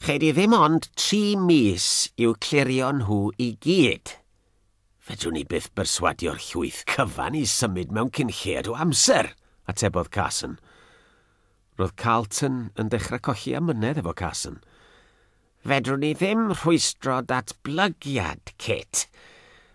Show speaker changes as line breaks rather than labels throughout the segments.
Ched i ddim ond tri mis i'w clirio nhw i gyd. Fedrwn ni byth berswadio'r llwyth cyfan i symud mewn cyn lled o amser, atebodd Carson. Roedd Carlton yn dechrau colli amynedd efo Carson. Fedrwn ni ddim rhwystro datblygiad, Kit.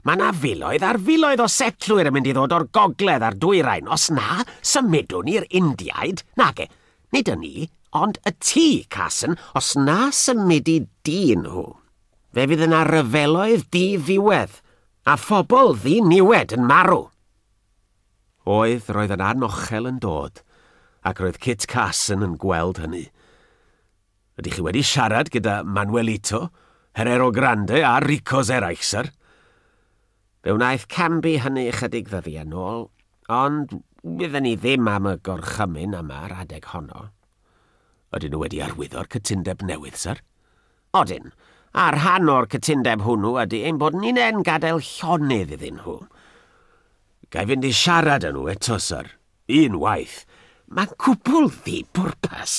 Mae yna filoedd ar filoedd o setlwyr yn mynd i ddod o'r gogledd a'r dwyrain. Os na, symudwn ni'r Indiaid. Nage, nid y ni, ond y ti, Carson. Os na symudu dyn nhw, fe fydd yna ryfeloedd di-ddiwedd, a phobl ddi-niwed yn marw. Oedd, roedd yn anochel yn dod, ac roedd Kit Carson yn gweld hynny. Ydych chi wedi siarad gyda Manuelito, Herrero Grande a Rico Zeraill, syr? Fe wnaeth Cambi hynny ychydig ddyddiau yn ôl, ond wydden ni ddim am y gorchymyn am yr adeg honno. Ydyn nhw wedi arwyddo'r cytundeb newydd, syr? Odyn, a rhan o'r cytundeb hwnnw ydy ein bod ni'n en gadael llonydd iddyn nhw. Gai fynd i siarad â nhw eto, syr? Unwaith, mae'n cwbl ddi-bwrpas.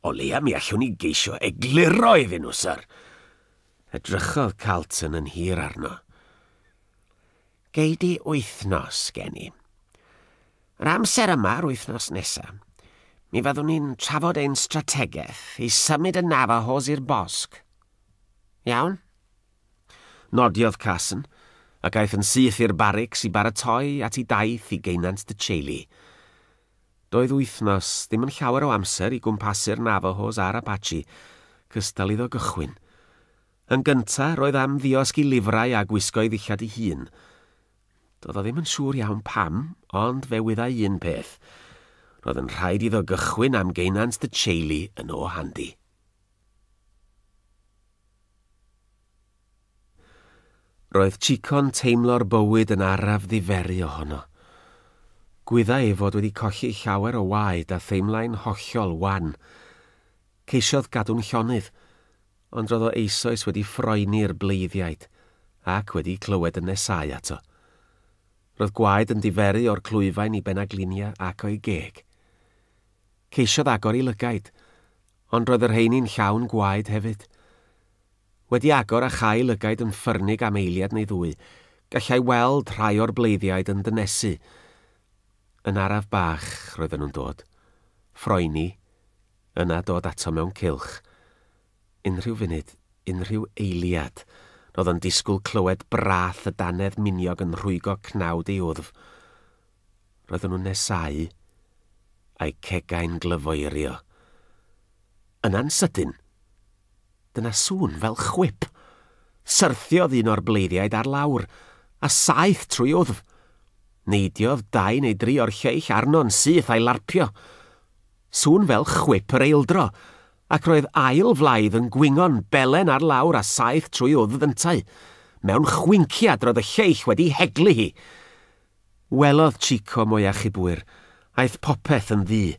O leia mi allwn ni geisio egluro iddyn nhw, syr. Edrychodd Carlton yn hir arno. Gei di wythnos gen i. Yr amser yma, yr wythnos nesaf, mi fyddwn ni'n trafod ein strategaeth i symud y Navajos i'r bosg. Iawn? Nodiodd Carson, ac aeth yn syth i'r barics i baratoi at ei daith i geunant De Chelly. Doedd wythnos ddim yn llawer o amser i gwmpasu'r Navajos a'r Apache, cystal iddo gychwyn. Yn gynta, roedd am ddiosg i lifrai a gwisgo'i ddillad ei hun. Doedd o ddim yn siŵr iawn pam, ond fe wyddai un peth, roedd yn rhaid iddo gychwyn am geunant De Chelly yn o handi. Roedd Chico'n teimlo'r bywyd yn araf ddiferu ohono. Gwyddai ei fod wedi colli llawer o waed a theimlai'n hollol wan. Ceisiodd gadw'n llonydd, ond roedd o eisoes wedi ffroeni'r bleiddiaid ac wedi clywed y nesáu ato. Roedd gwaed yn diferu o'r clwyfain i benaglinia ac o'i geg. Ceisiodd agor ei lygaid, Ond roedd y rheini'n llawn gwaed hefyd. Wedi agor a chael lygaid yn ffyrnig am eiliad neu ddwy, gallai weld rhai o'r bleiddiaid yn dynesu. Yn araf bach roedden nhw'n dod. Ffroeni, yna dod ato mewn cylch. Unrhyw funud, unrhyw eiliad, roedd o'n disgwyl clywed brath y dannedd miniog yn rhwygo cnawd ei wddf. Roedden nhw'n nesáu, a'u cegau'n glyfoerio. Yna'n sydyn, dyna sŵn fel chwip. Syrthiodd un o'r bleiddiaid ar lawr, a saeth trwy wddf. Neidiodd dau neu dri o'r lleill arno'n syth a'i larpio. Sŵn fel chwip yr eildro, ac roedd ail flaidd yn gwingo'n belen ar lawr a saeth trwy wddf yntau. Mewn chwinciad roedd y lleill wedi heglu hi. Welodd Chico mwy achubwyr, aeth popeth yn ddu.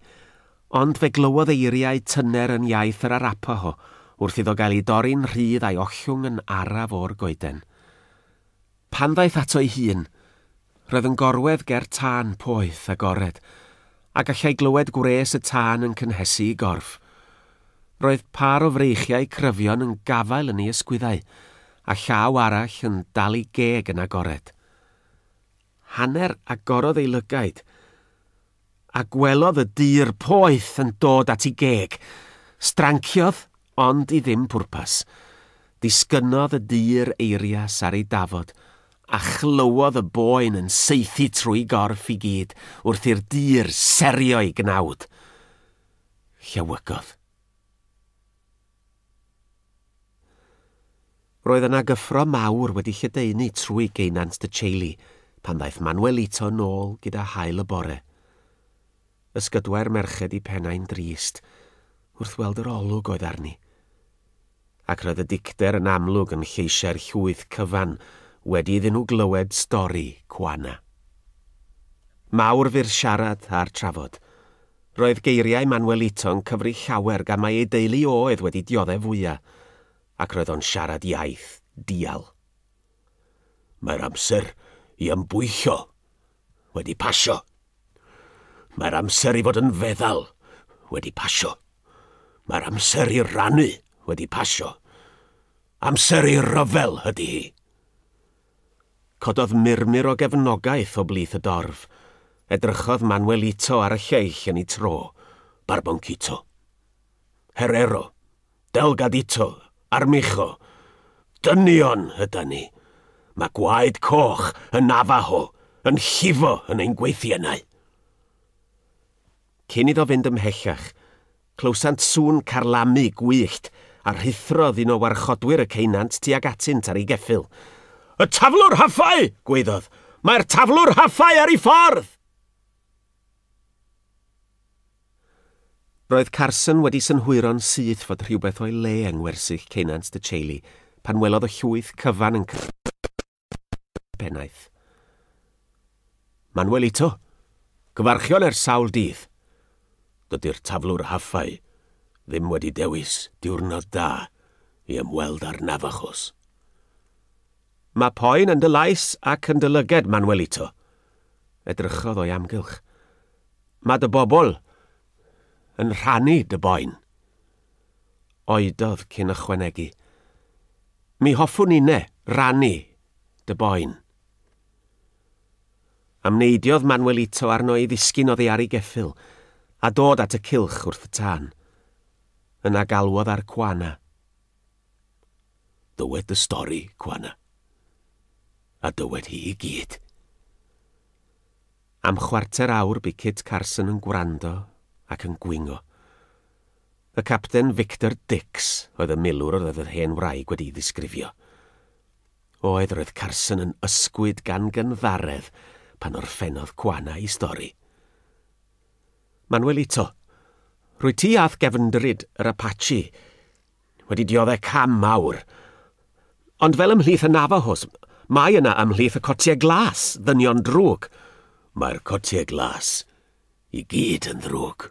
Ond fe glywodd eiriau tyner yn iaith yr Arapaho wrth iddo gael ei dorri'n rhydd a'i ollwng yn araf o'r goeden. Pan ddaeth ato'i hun, roedd yn gorwedd ger tân poeth agored, a gallai glywed gwres y tân yn cynhesu'i gorff. Roedd pâr o freichiau cryfion yn gafael yn ei ysgwyddau, a llaw arall yn dal ei geg yn agored. Hanner agorodd ei lygaid, a gwelodd y dŷr poeth yn dod at ei geg. Stranciodd, ond i ddim pwrpas. Disgynnodd y dŷr eirias ar ei dafod, a chlywodd y boen yn saethu trwy'i gorff i gyd wrth i'r dŷr serio'i gnawd. Llewygodd. Roedd yna gyffro mawr wedi lledaenu trwy geunant De Ceilly pan ddaeth Manuelito nôl gyda haul y bore. Ysgydwai'r merched i pennau'n drist wrth weld yr olwg oedd arni. Ac roedd y dicter yn amlwg yn lleisiau'r llwyth cyfan wedi iddyn nhw glywed stori Juana. Mawr fu'r siarad a'r trafod, Roedd geiriau Manuelito'n cyfri llawer gan mai ei deulu oedd wedi dioddef fwya, ac roedd o'n siarad iaith dial. Mae'r amser i ymbwyllo wedi pasio. Mae'r amser i fod yn feddal wedi pasio. Mae'r amser i rannu wedi
pasio. Amser i ryfel ydy hi. Cododd
murmur o gefnogaeth o blith y dorf. Edrychodd Manuelito ar y lleill yn ei tro. Barboncito.
Herrero. Delgadito. Armijo. Dynion ydan ni. Mae gwaed coch yn Navajo yn llifo yn ein gweithiennau.
Cyn iddo fynd ymhellach, Clywsant sŵn carlamu gwyllt, a rhuthrodd un o warchodwyr y ceunant tuag atynt ar ei geffyl. Y taflwr
haffau! gwaeddodd. Mae'r taflwr haffau ar ei ffordd!
Roedd Carson wedi synhwyro'n syth fod rhywbeth o'i le yng ngwersyll ceunant Tŷ Chailey pan welodd y llwyth cyfan yn cyrraedd. pennaeth.
Manuelito, gyfarchion er sawl dydd. Dydy'r taflwr haffau ddim wedi dewis diwrnod da i ymweld â'r Navajos.
Mae poen yn dy lais ac yn dy lyged, Manuelito. Edrychodd o'i amgylch. Mae dy bobl yn rhannu dy boen. oedodd cyn ychwanegu, Mi hoffwn inne rannu dy boen. Amneidiodd Manuelito arno ei ddisgyn oddi ar ei geffyl, a dod at y cylch wrth y tân. Yna galwodd ar Cwana.
Dywed dy stori, Cwana. A dywed hi i gyd.
Am chwarter awr bu Kit Carson yn gwrando ac yn gwingo. Y Capten Victor Dix oedd y milwr yr oedd yr hen wraig wedi'i ddisgrifio. Oedd, roedd Carson yn ysgwyd gan gynddaredd pan orffennodd Quana ei stori. Manuelito, rwyt ti a'th gefndryd yr Apache wedi diodde' cam mawr. Ond fel ymhlith y Navajos, mae yna ymhlith y cotiau glas, ddynion drwg. Mae'r cotiau
glas I gyd yn ddrwg.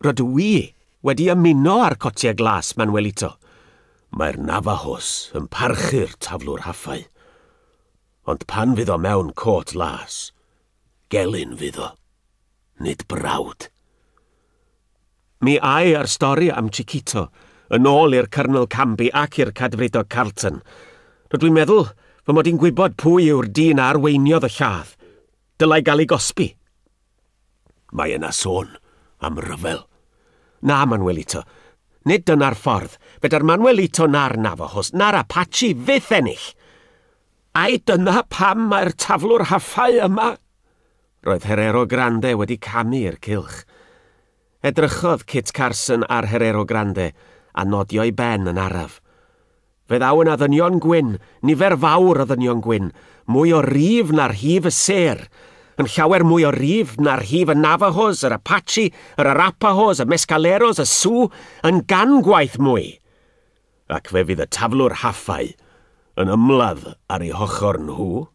Rydw i wedi ymuno â'r Cotiau Glas, Manuelito. Mae'r
Navajos yn parchu'r Taflwr Haffau. Ond pan fydd o mewn côt las, gelyn fydd o, nid brawd.
Mi ai ar stori am Chiquito, yn ôl i'r Cyrnol Camby ac i'r Cadfridog Carlton. Rydw i'n meddwl fy mod i'n gwybod pwy yw'r dyn a arweiniodd y lladd. dylai gael ei gosbi.
Mae yna sôn am ryfel. Na,
Manuelito, nid dyna'r ffordd. Feda'r Manuelito na'r Navajos na'r Apache fyth ennill. Ai dyna pam mae'r taflwr haffau yma? Roedd Herero Grande wedi camu i'r cylch. Edrychodd Kit Carson ar Herero Grande a nodio'i ben yn araf. Fe ddaw yna ddynion gwyn, nifer fawr o ddynion gwyn, mwy o rif na rhif y sêr, yn llawer mwy o rif na rhif y Navajos, yr Apache, yr Arapahos, y Mescaleros, y Sioux, yn gan gwaith mwy! Ac fe fydd y taflwr haffau yn ymladd ar eu hochr nhw.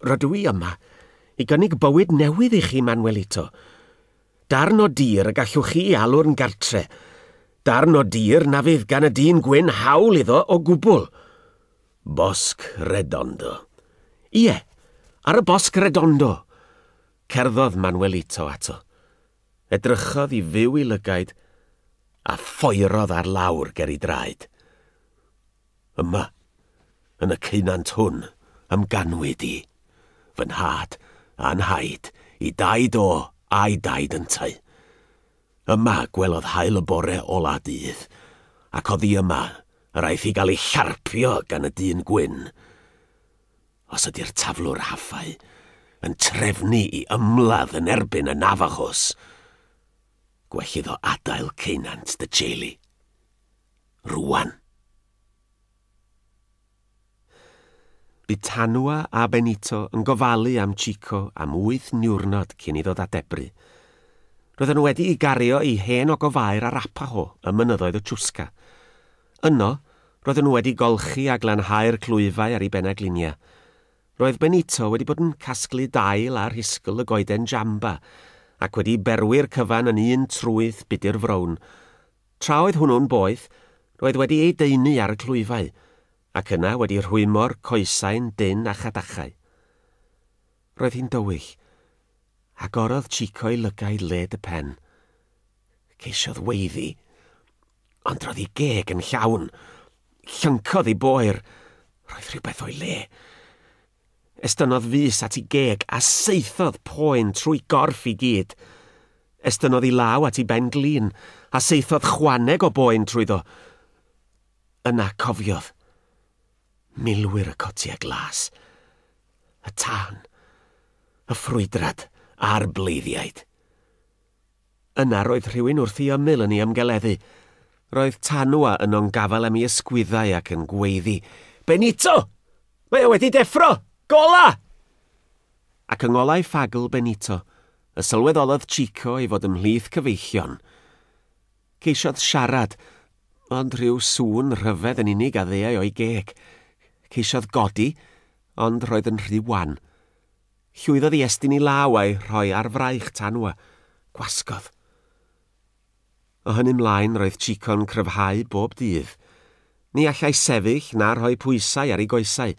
Rydw i yma i gynnig bywyd newydd i chi, Manuelito. Darn o dir y gallwch chi alw'n gartre'. Darn o dir na fydd gan y dyn gwyn hawl iddo o gwbl.
Bosg Redondo. Ie,
ar y Bosg Redondo! Cerddodd Manuelito ato. Edrychodd i fyw i lygaid a phoerodd ar lawr ger ei draed.
Yma, yn y ceunant hwn, ymganwyd i, fy nhad a nhaid i daid o a'i daid yntau. Yma gwelodd haul y bore ola dydd, ac oddi yma yr aeth i gael ei charpio gan y dyn gwyn. Os ydy'r taflwr haffau yn trefnu i ymladd yn erbyn y Navajos, gwell iddo adael ceunant dy teulu. rwan.
Bu Tanua a Benito yn gofalu am Chico am wyth niwrnod cyn iddo ddadebru. Roedden nhw wedi i gario i hen ogofair Arapaho ym mynyddoedd y Chusca. Yno, roedden nhw wedi golchi a glanhau'r clwyfau ar ei benaglinia. Roedd Benito wedi bod yn casglu dail a rhisgl y goeden jamba ac wedi berwi'r cyfan yn un trwyth budr frown. Tra oedd hwnnw'n boeth, roedd wedi ei daenu ar y clwyfau, ac yna wedi rhwymo'r coesau'n dynn a chadachau. Roedd hi'n dywyll. Agorodd Chico ei lygaid led y pen. Ceisiodd weiddi. Ond
roedd ei geg yn llawn. Llyncodd ei boer. Roedd rhywbeth o'i le. Estynnodd fys at i geg a saethodd poen trwy gorff i gyd. Estynnodd i law at i ben glin a saethodd chwaneg o boen trwyddo. Yna cofiodd. Milwyr y cotiau glas. Y tân. Y ffrwydrad a'r bleiddiaid. Yna roedd rhywun wrth i ymyl yn ei ymgeleddu. Roedd Tanua yno'n gafael am ei ysgwyddau ac yn gweiddi, Benito! Mae o wedi deffro! Gola! Ac yng ngolau ffagl Benito, y sylweddolodd Chico ei fod ymhlith cyfeillion. Ceisiodd siarad, ond rhyw sŵn rhyfedd yn unig a ddeuai o'i geg. Ceisiodd godi, ond roedd yn rhy wan. Llwyddodd i estyn ei law a'i rhoi ar fraich Tanwa. Gwasgodd. O hynny 'mlaen, roedd Chico'n cryfhau bob dydd. Ni allai sefyll na rhoi pwysau ar ei goesau,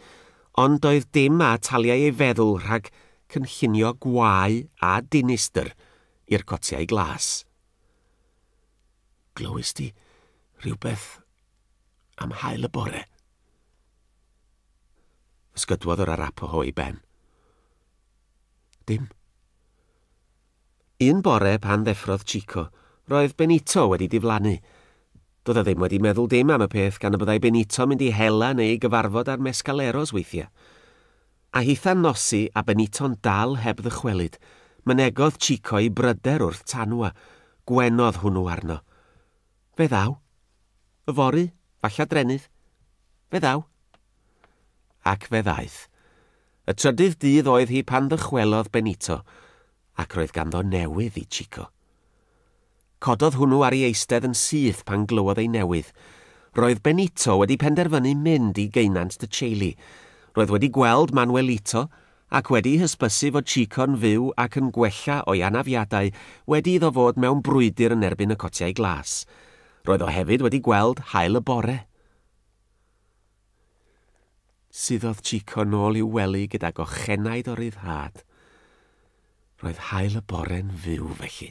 ond doedd dim a ataliai ei feddwl rhag cynllunio gwau a dinistr i'r cotiau glas. Glywis di rhywbeth am haul y bore? Ysgydwodd yr Arapaho ei ben. Dim. Un bore pan ddeffrodd Chico, roedd Benito wedi diflannu. Doedd o ddim wedi meddwl dim am y peth gan y byddai Benito mynd i hela neu i gyfarfod â'r Mescaleros weithiau. A hitha'n nosi a Benito'n dal heb ddychwelyd, mynegodd Chico'i bryder wrth Tanwa, gwenodd hwnnw arno. Fe ddaw. Yfory, falla Drenydd. Fe ddaw. Ac fe ddaeth. Y trydydd dydd oedd hi pan ddychwelodd Benito, ac roedd ganddo newydd i Chico. Cododd hwnnw ar ei eistedd yn syth pan glywodd ei newydd. Roedd Benito wedi penderfynu mynd i geunant Tcheli. Roedd wedi gweld Manuelito ac wedi hysbysu fod Chico'n fyw ac yn gwella o'i anafiadau wedi iddo fod mewn brwydr yn erbyn y cotiau glas. Roedd o hefyd wedi gweld haul y bore. Suddodd Chico nôl i'w wely gyda gochenaid o ryddhad. Roedd haul y bore'n fyw felly.